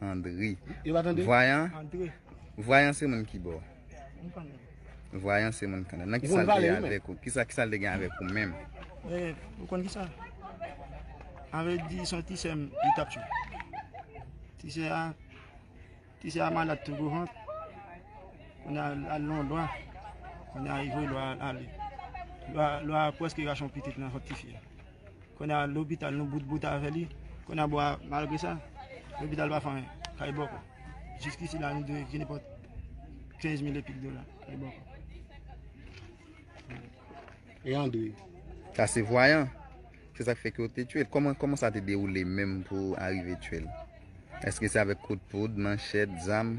Andre. Yo pa tande? Vwayan. Andre. Vwayan se moun ki bò? Moun kanada. Vwayan se moun kanada. Nan ki sal te gen avèk ou? Kisa ki sal te gen avèk ou menm? E, ou konn ki sa? Anve di son ti sèm li tap chou. Ti sè a, ti sè a malad tou gwo vant. Konn a al lon lwa. Konn a yi vwe lwa al. Lwa, lwa pwèske rachon pitit nan vant ti fi a. Konya lopital nou bout bout avè li, konya bon malgre sa lopital pa fè anyen, kay bòkò. Jiskisi la nou dwe je nenpòt 15 mil epik dola, kay bòkò. E André? Sa se vwayan, se sak fè ke yo te tye l. Kòman, kòman sa te dewoule menm pou arive tye l? Eske se avèk kout poud, manchèt, zam?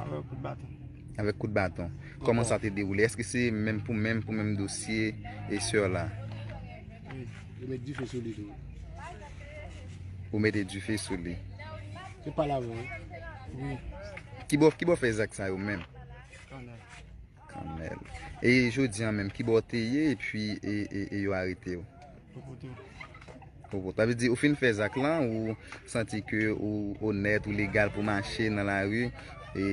Avèk kout baton. Avèk kout baton. Kòman sa te dewoule? Eske se menm pou menm pou menm dosye e sè la? Wi. Yo met dife sou li tou. Ou mete dife sou li? Se pa la vre. Wi. Ki bo ki bo fè zak sa yo menm? Kanel. Kanel. E jodi an menm ki bo te ye e pi e yo arete yo? Sa vle di ou fin fè zak lan ou santi ke ou onèt, ou legal pou mache nan lari e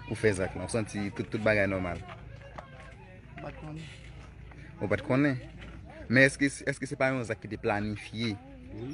ou fè zak lan. Ou santi tout bagay nòmal. Mwen pa t konnen. Ou pa t konnen? Men eske se pa yon zak ki te planifye? Wi.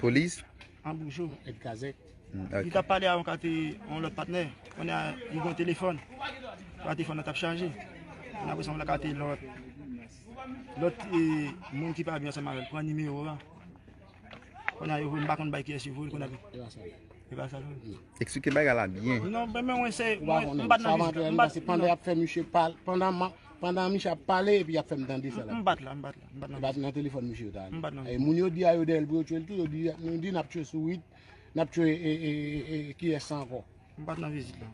Polis. An boujou et kazek. Li tap pale a yon kate yon lot patne. Konya li gen yon telefon. Konya telefon nan tap chaje. Konya apre sa yon kate lot. Lot e moun ki pa byen sa mal. Pran nime yo a. Konya yo voun bakon bay kyes yo voun. Konya ki. Ewa sa. Ewa sa. Eksplike bay gala byen. Non mwen mwen mwen se. Mwen bat nan viz. Mwen bat nan viz. Pandan misye ap pale epi ap fem dande sa la. Mwen bat la. Li bat nan telefòn misye ta ale. E moun yo di a yo dèyèl pou yo tchwel tou yo di nou di nap tchwe sourit, nap tchwe e kiyès sa ankò. M pat nan vizit la.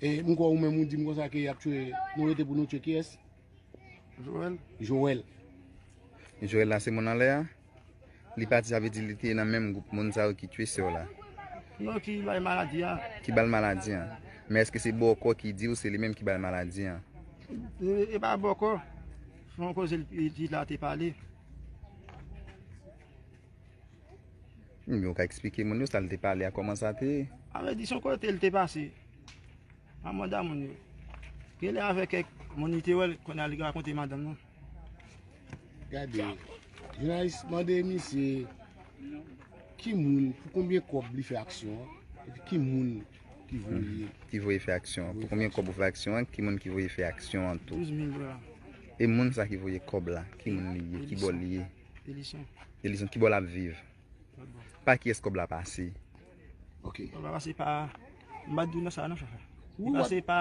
E m kwè ou menm ou di m konsa ke yap tchwe nou rete pou nou tchwe kiyès? Joel. Joel. Joel la se moun anlè a? Li pati sa vle di li te nan menm gwoup moun sa yo ki tue sè w la? Non ki bay maladi an. Ki bal maladi an. Men eske se bòkò ki di ou se li menm ki bal maladi an? E pa bòkò. Se yon koze li di la te pale. Ebyen ou ka eksplike moun yo sa li te pale a kòman sa te ye? A vle di se yon kote li te pase. Nan manda moun yo. Ke li avèk kèk moun li te wè kounye a li rakonte madanm nan. Gade, jounalis mande misye ki moun, pou konbyen kòb li fè aksyon an, epi ki moun ki voye. Ki voye fè aksyon an. Pou konbyen kòb ou fè aksyon an, ki moun ki voye fè aksyon an tou. 12 mil dola. E moun sa ki voye kòb la, ki moun li ye, ki bò li ye? Elison. Elison, ki bò lap viv? Lòt bò. Pa kiyès kòb la pase? Ok. Kòb la pase pa, m pa di w nan sa non chofè. Li pase pa.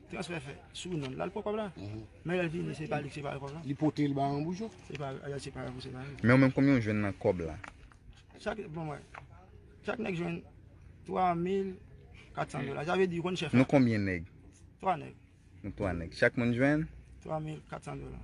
Transfè fè sou non lal pran kob la men lel vini se pa li ki separe kob la. Li potel ba yon boujon. Se pa lel separe pou separe. Men ou menm konbyen ou jwenn nan kob la? Chak bon mwen. Chak neg jwenn 3400 dola. Sa vle di ou konn chef la. Nou konbyen neg? 3 neg. Nou 3 neg. Chak moun jwenn? 3400 dola.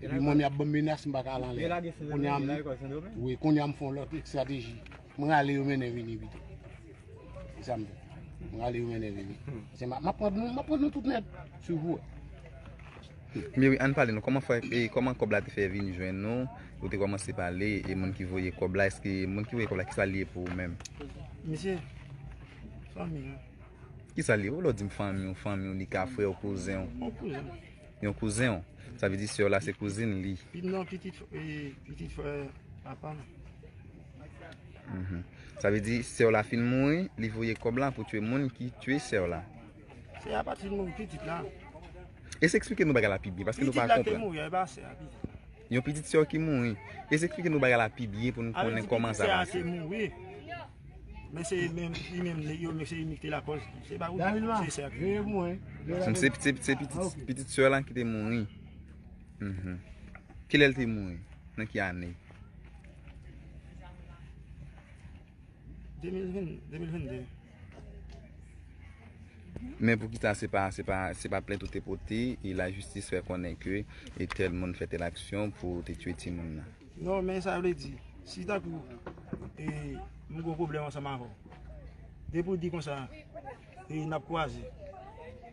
Epi mwen mi ap ban menas m baka al anlè. Kounye am wi, kounye am fon lòt ekstrateji. Mwen ale yo mennen vini bito. E sa m. Mwen ale yo mennen vini. Se ma pran nou, ma pran nou tout nèt. Sou vou. Mi wi, an pale nou. Koman fè, e koman kòb la te fè vini jwenn nou? Ou te kòman se pale, e moun ki voye kòb la, eske moun ki voye kòb la ki sa li e pou ou menm? Misye, fanmi an. Ki sa li e? Ou lò di m fanmi ou, fanmi ou li ka frè ou, kouzen ou. Ou kouzen ou. yon kouzen w. Sa vle di sè w la se kouzin li. Pim nan pitit pitit frè papa m. Sa vle di sè w la fin mouri, li voye kòb la pou tue moun ki tue sè w la. Sè a pa t fin mouri, pitit la. Esplike nou bagay la pi byen paske nou pa konprann. Pitit la ki te mouri a, e pa sè a. Yon pitit sè w ki mouri. Jezi eksplike nou bagay la pi byen pou nou konnen kòman sa pase. Alè di pitit sè a te mouri, men se li menm li menm li yo men se li menm ki te lakòz. Se pa ou di se sè a ki mouri. Donk se pitit sè lan ki te mouri. Kilè li te mouri? Nan ki ane? 2022. Men poukisa se pa se pa se pa plent ou te pote e la jistis fè konnen ke e tèl moun fè tèl aksyon pou ou te tye ti moun nan. Non men sa vle di si tankou e nou gon pwoblèm ansanm avè w depi w di konsa e n ap kwaze.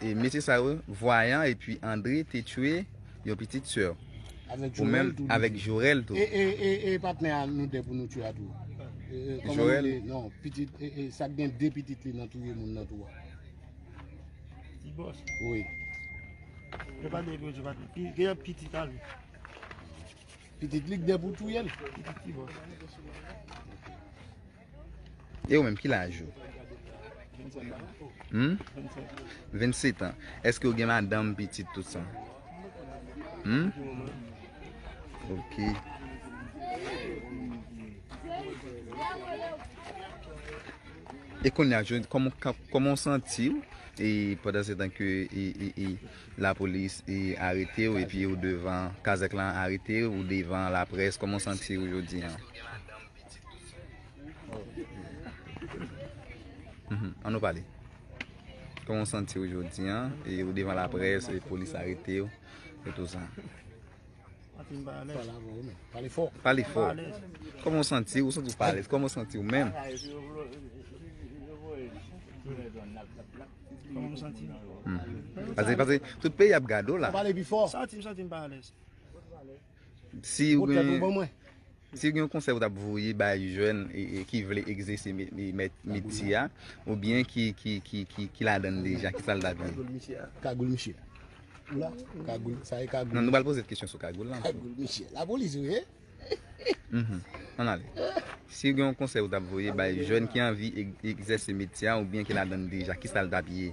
E mesye sa yo, Voyant epi André te tchwe yon pitit sè w. Avèk Jorel tou. Ou menm avèk Jorel tou. E e e patnè a nou 2 pou nou tchwe a tou. Jorel. E e non pitit e e sa k gen 2 pitit li nan touye moun nan tou a. Ti bòs. Wi. Yo pa gen pou yo tchwe patnè. Ki gen pitit a li. Pitit li k gen pou touye l. Pitit ki bòs. E ou menm ki laj ou? 27 an. Hum? 27. 27 an. Eske ou gen madanm, pitit tout sa? Hum? Pou le moman. Ok. E konya jodi, koman w santi w? E pandan se tan ke la polis arete w, epi ou devan kazek lan arete w, ou devan la pres, koman w santi w jodi an? An nou pale. Koman w santi w jodi an? E ou devan la près, e polis arete w, e tou sa. Pale fò. Pale fò. Koman w santi w? Ou santi w pa alèz? Koman w santi w menm? Koman w santi w? Pase, pase, tout peyi ap gade w la. Santi m, santi m pa alèz. Si ou gen yon konsèy ou tap voye bay jèn ki vle egzese metye a ou byen ki ladann deja ki sa l tap di l? Kagoul misye ou la? Kagoul sa e kagoul? Nan nou pral poze kesyon sou kagoul la. Kagoul misye la polis ou ye? An ale. Si ou gen yon konsèy ou tap voye bay jèn ki anvi egzese metye a ou byen ki ladann deja ki sa l tap ye?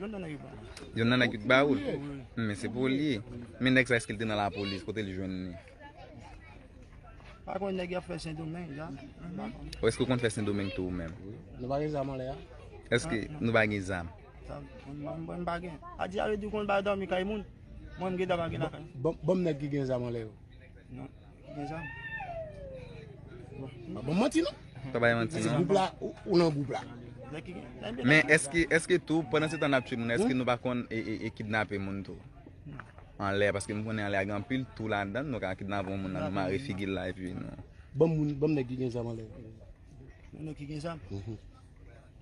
Yon nan nèg yo bala. Yon nan nèg yo t baoul. Men se pou li. Men nèg sa eske l te nan la polis kote li jwenn li. Pa kon nèg yap fè sendomeng la. Ou eske ou kon fè sendomeng tou ou menm. Nou pa gen zam anlè a. Eske nou pa gen zam. Mwen pa gen. A di a yo di kon ba domi kay moun. Mwen m gen daba gen la kay. Bon nèg ki gen zam anlè yo. Pa banm manti non. Pa bay manti non. Gwoup la ou nan gwoup la. Men eske tou pandan se tan nap tchwe moun eske nou pa konn e kidnape moun tou. Anlè paske m konnen anlè a gen anpil tou la dan nou ka kidnape yon moun nan nou mare figil la epi nou. Banm moun banm nèg ki gen zam anlè. Nèg ki gen zam?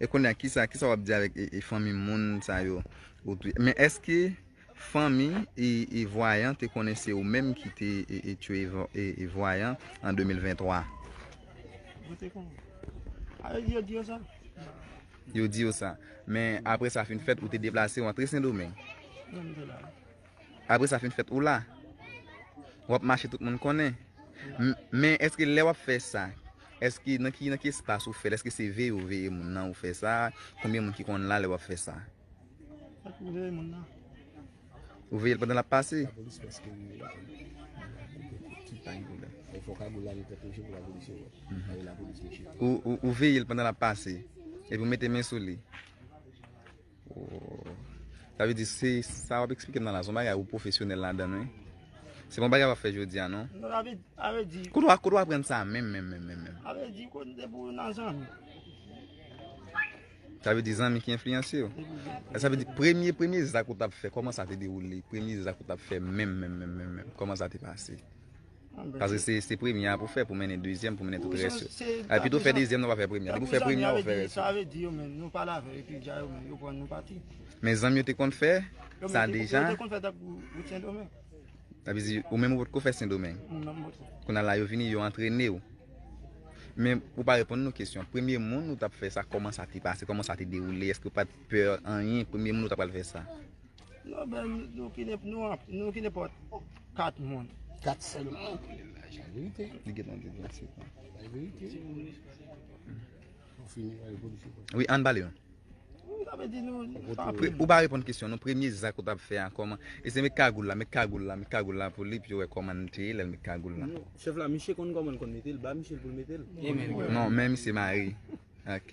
E konya kisa kisa wap di avèk e fanmi moun sa yo ou touye men eske fanmi e vwayan te konnen se ou menm ki te e touye e vwayan an 2023 yo te konnen a yo di yo di yo sa yo di yo sa men apre sa fin fèt ou te deplase ou antre sendomeng nan mwen te la. Apre sa fin fèt ou la. Wap mache tout moun konnen. Men eske lè wap fè sa. Eske nan ki espas ou fèl. Eske se veye ou veye moun nan ou fè sa. Konbyen moun ki konn la lè wap fè sa. Ou veye moun nan. Ou veyel pandan lap pase. La polis pèske ou veye la. Ki pa yon problem. E fò ka gou la li pète ou jepou la polis yo wè. A yon la polis yo jepou. Ou veyel pandan lap pase. E pou mete men sou li. Sa vle di se sa wap eksplike nan la son bagay ou pwofesyonèl ladann wi. Se pa yon bagay wap fè jodi a non. Non a vle di. Kote w aprann sa menm menm menm menm menm? A vle di kote se pou nan zanmi. Sa vle di zanmi ki enfliyanse w? Sa vle di premye premye zak ou tap fè kòman sa te dewoule? Premye zak ou tap fè menm menm menm menm menm kòman sa te pase? Paske se premye a pou fè pou mennen dezyèm pou mennen tout rès yo. Al pito fè dezyèm nan pa fè premye a. Depi ou fè premye a ou fè rès yo. Men zanmi yo te konn fè sa deja. Sa vle di ou menm ou potko fè sendomeng. Kounya la yo vini yo antrene ou. Men ou pa reponn nou kesyon. Premye moun ou tap fè sa kòman sa te pase? Kòman sa te dewoule? Eske ou pat pè anyen? Premye moun ou ta pral fè sa? Non men nou ki nenpòt nou anpil nou ki nenpòt 4 moun. 4 sèlman. Sa verite. Li gen nan devan se pa. Sa verite. Ou fini wè policier. Oui, an bale yon. Sa vle di nou ou pa reponn kesyon nou premye zak ou tap fè a kòman e se met kagoul la met kagoul la met kagoul la pou li pou yo wè kòman li te ye lèl met kagoul la non chèf la misye konn kòman l konn mete l ba misye l pou l mete l non men misye mare ok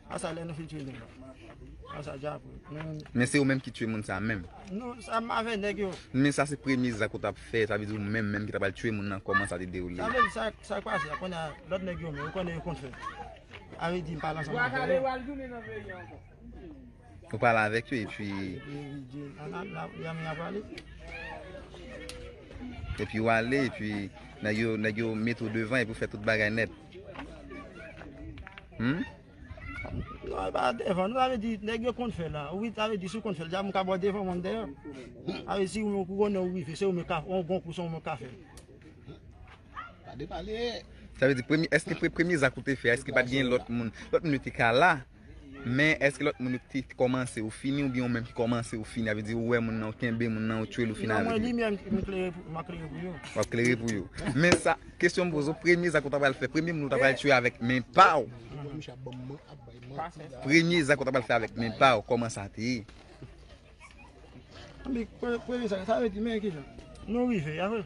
A sa lè nou fin tue nèg la. A sa dja pou. Men se ou menm ki tue moun sa menm. Non, sa m avè nèg yo. Men sa se premye zak ou tap fè, sa vle di ou menm menm ki ta pral tue moun nan kòman sa te dewoule. Sa vle di sa k pase la konnè a lòt nèg yo menm ou konnen yo konn fè. A vle di m pral ansanm avè yo. Ou pral avèk yo epi. Epi ou ale epi nèg yo met ou devan epi ou fè tout bagay nèt. Humm. Non e pa devan nou sa vle di nèg yo konn fè la wi sa vle di si ou konn fè deja moun ka ba w devan moun deyò sa vle di si ou menm ou konnen ou rive se ou menm kap on bon kou se ou menm kap fè l. Pa depale. Sa vle di premye èske premye zak ou te fè a èske pat gen lòt moun lòt moun yo te ka la. Men eske lòt moun yo te kòmanse yo fini oubyen ou menm ki kòmanse ou fini? Sa vle di ou wè moun nan ou kenbe moun nan ou tchwel ou fini avèk li? Non mwen li menm m klere pou map klere pou yo. Wap klere pou yo. Men sa kesyon m poze ou premye zak ou ta pral fè premye moun ou ta pral tchwe avèk men pa ou premye zak ou ta pral fè avèk men pa ou kòman sa te ye? Anpi premye zak sa vle di men kijan? Nou rive a vre.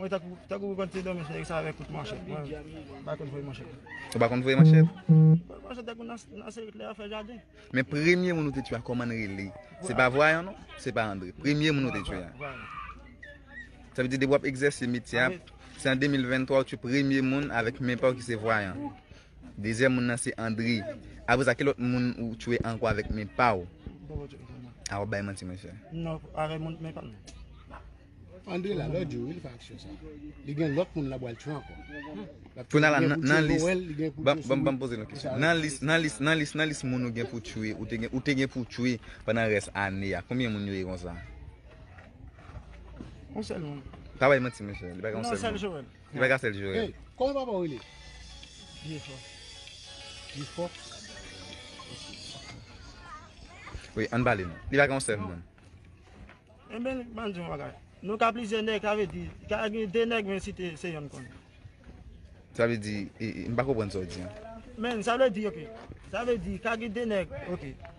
Mwen takou pou kont se domi fè sa avèk kout manchèt. Mwen pa konn voye manchèt. Ou pa konn voye manchèt? Voye manchèt dèk ou nan serik lè a fè jaden. Men premye moun ou te tchwe a kòman li rele? Se pa vwayan non? Se pa Andre? Premye moun ou te tchwe a? Vwayan. Sa vle di depi wap egzèse metye a, se an 2023 ou tchwe premye moun avèk men pa ou ki se vwayan? Dezyèm moun nan se André. Apre sa ki lòt moun ou tchwe ankò avèk men pa ou? A wap bay manti mwen chè. Non, avèk moun men pa m. André la lòt jou wi li fè aksyon sa. Li gen lòt moun la bwal tchwe ankò. Kounye la nan lis Banm poze lòt kesyon. Nan lis nan lis nan lis nan lis moun ou gen pou tchwe ou te gen pou tchwe pandan rès ane a konbyen moun yo ye konsa? Yon sèl moun. Pa bay manti mwen chè. Li pa gen yon sèl moun. Ki bagay sel jurel. Hey, koman papa ou rele? Vieux fò. Vieux fò? Oui, an bali nou. Li pa gen yon sel moun. En ben, man di yon bagay. Nou ka plizyè nèg, sa vle di, ka gen 2 nèg men si te se yon kon. Sa vle di, m pa konprann sa ou di an. Men, sa vle di ok. Sa vle di, ka gen 2 nèg, ok.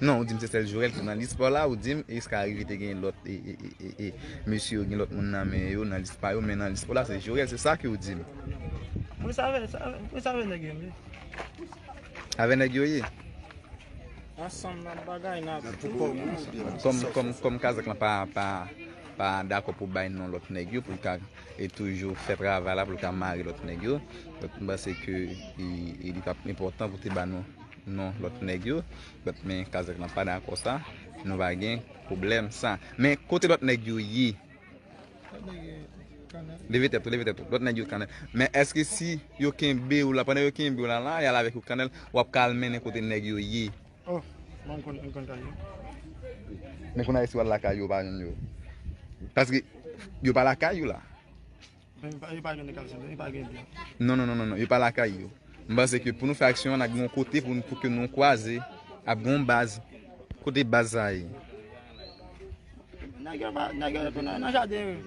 Non, ou di m se sèl Jorel ki nan lis pa w la, ou di m eske ka rive te gen lòt mesye yo gen lòt moun nan men yo nan lis pa yo men nan lis pa w la se Jorel, se sa ke w di m. Mwen save, mwen save nèg yo ye. Save nèg yo ye? Ansanm nan bagay nan tou kò moun. Kòm kazèk lan pa pa dako pou bay non lòt nèg yo pou l ka. e toujou fè travay la pou l ka mare lòt nèg yo. Donk m panse ke li t ap enpòtan pou te ba nou non lòt nèg yo. Donk men Kazèk lan pa dakò sa. Nou va gen pwoblèm sa. Men kote lòt nèg yo ye? Lòt nèg yo kanè. Leve tèt ou, leve tèt ou. Lòt nèg yo kanè. Men èske si yo kenbe ou la, pandan yo kenbe ou la la, y al avèk ou kanè, w ap ka al mennen kote nèg yo ye? Oh bon mkonn mkonn kay yo. Men konn ayiti wal lakay yo pa jwenn yo. Paske yo pa lakay yo la. Yo pa jwenn ekal sende yo pa gen blan. Non non non yo pa lakay yo. M panse ke pou nou fè aksyon an nage yon kote pou nou pouke nou kwaze ap gen yon baz. Kote baz sa ye? Nage pa nage yo nan nan jaden yo.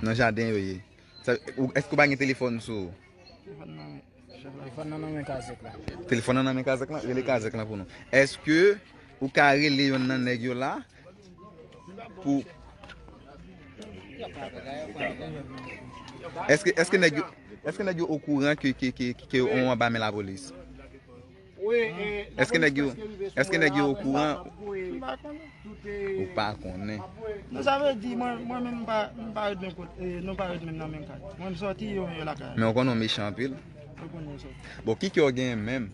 Nan jaden yo ye. Eske ou pa gen telefon sou ou? Telefon nan men. Telefòn nan nan men kazèk la. Telefòn nan nan men kazèk la? Rele kazèk la pou nou. Eske ou ka rele yon nan nèg yo la pou... Eske nèg yo okouran ke yo anba men lapolis? Eske nèg yo Eske nèg yo okouran Mwen pa konnen Ou pa konnen Non sa vle di mwen mwen menm mpa mpa ret menm kot e nou pa ret menm nan menm kay Mwen m sòti yo menm yo lakay Men ou konnen ou mechan anpil Mwen konnen m sòti Bon ki kè ou genyen menm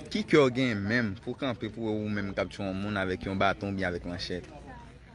Ki kè ou genyen menm pou kanpe pou wè ou menm kap tchwe yon moun avèk yon baton oubyen avèk manchèt.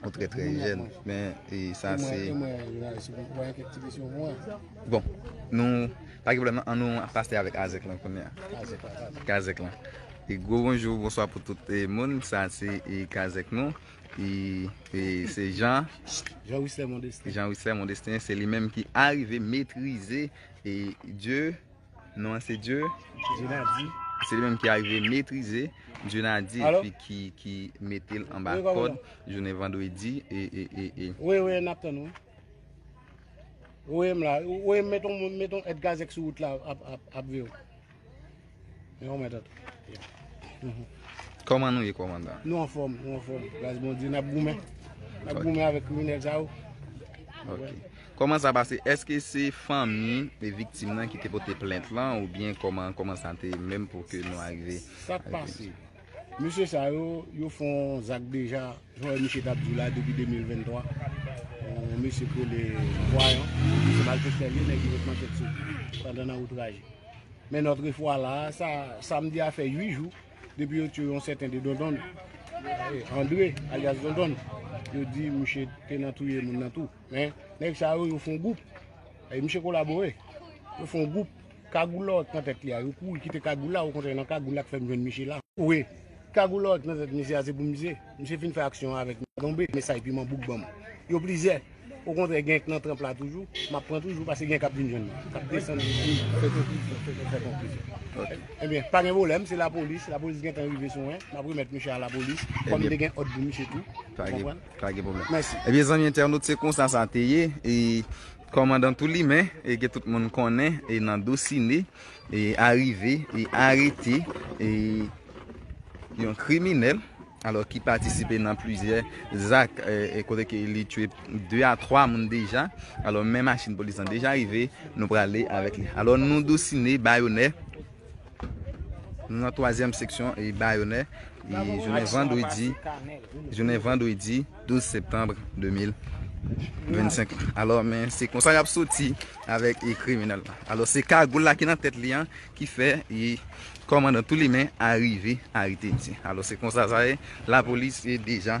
Ou trè trè jèn men e sa se. E mwen e mwen si mwen gen kèk ti kesyon pou mwen. Bon nou pa gen pwoblèm nan an nou ap pase avèk Azèk lan kounye a. Kazèk la kazèk. Kazèk la. E gwo bonjou bonswa pou tout e moun sa se e Kazèk nou e e se Jan. Jan Wisè Mondestin. Jan Wisè Mondestin se li menm ki arive metrize e dye. Non an se Dieu. Dionady. Se li menm ki arive metrize Dionady epi ki mete l anba kòd jounen vandredi e e e e. Wi wi nap tann ou. Voye m la. Voye m met on met on et gazèk sou wout la ap ap ap viw. Men yon mèt antre. Kòman nou ye kòmandan? Nou anfòm, nou anfòm. Gras Bondye nap goumen. Nap goumen avèk kriminèl sa yo. Ok. Koman sa pase eske se fanmi e viktim nan ki te pote plent lan ou byen koman koman sa te menm pou ke nou arive. Sak pase mesye sa yo yo fon zak deja jan wè misye tap di w la depi 2023 yon mesye ki rele vwayan se malfektè li nèg ki ret nan tèt sou pandan nan outraj men notre fwa la sa samdi a fè 8 jou depi yo tiye yon sèten de dondon Andre alyas dondon yo di misye te nan touye moun nan tou. Men, nèg sa yo, yo fon gwoup. E misye kolabore. Yo fon gwoup. Kagoulot nan tèt li a. Yo kou, yo kite kagoul la. Ou kontre nan kagoul la k fèm jwenn misye la. Wi. Kagoulot nan tèt misye a se pou misye. Misye fin fè aksyon avèk m. Tonbe. Mesaj piman bouk ban m. Yo plizyè. Ou kontre gen k nan tranp la toujou. M ap pran toujou pase gen k ap vin jwenn mwen. K ap desann vin fè konklisyon. Fè konklisyon. Ok. Ebyen, pa gen pwoblèm. Se lapolis. Lapolis gentan rive sou mwen. M ap remèt misye a lapolis. Ebyen. Kòm m te gen òd pou misye tou. Ou konprann? Pa gen pwoblèm. Mèsi. Ebyen zanmi entènot se konsa sa te ye e kòmandan tou li men e ke tout moun konnen e nan dosine e arive e arete e yon kriminèl alò ki patisipe nan plizyè zak e kote ke li tue 2 a 3 moun deja alò men machin polis lan deja rive nou prale avèk li alò nou dosine bayonè Nou nan twazyèm seksyon Bayonè jounen vandredi 12 septanm 2025 alò men se konsa y ap soti avèk kriminèl la alò se kagoul la ki nan tèt li an ki fè kòmandan Toulimen arive arete misye alò se konsa sa ye lapolis deja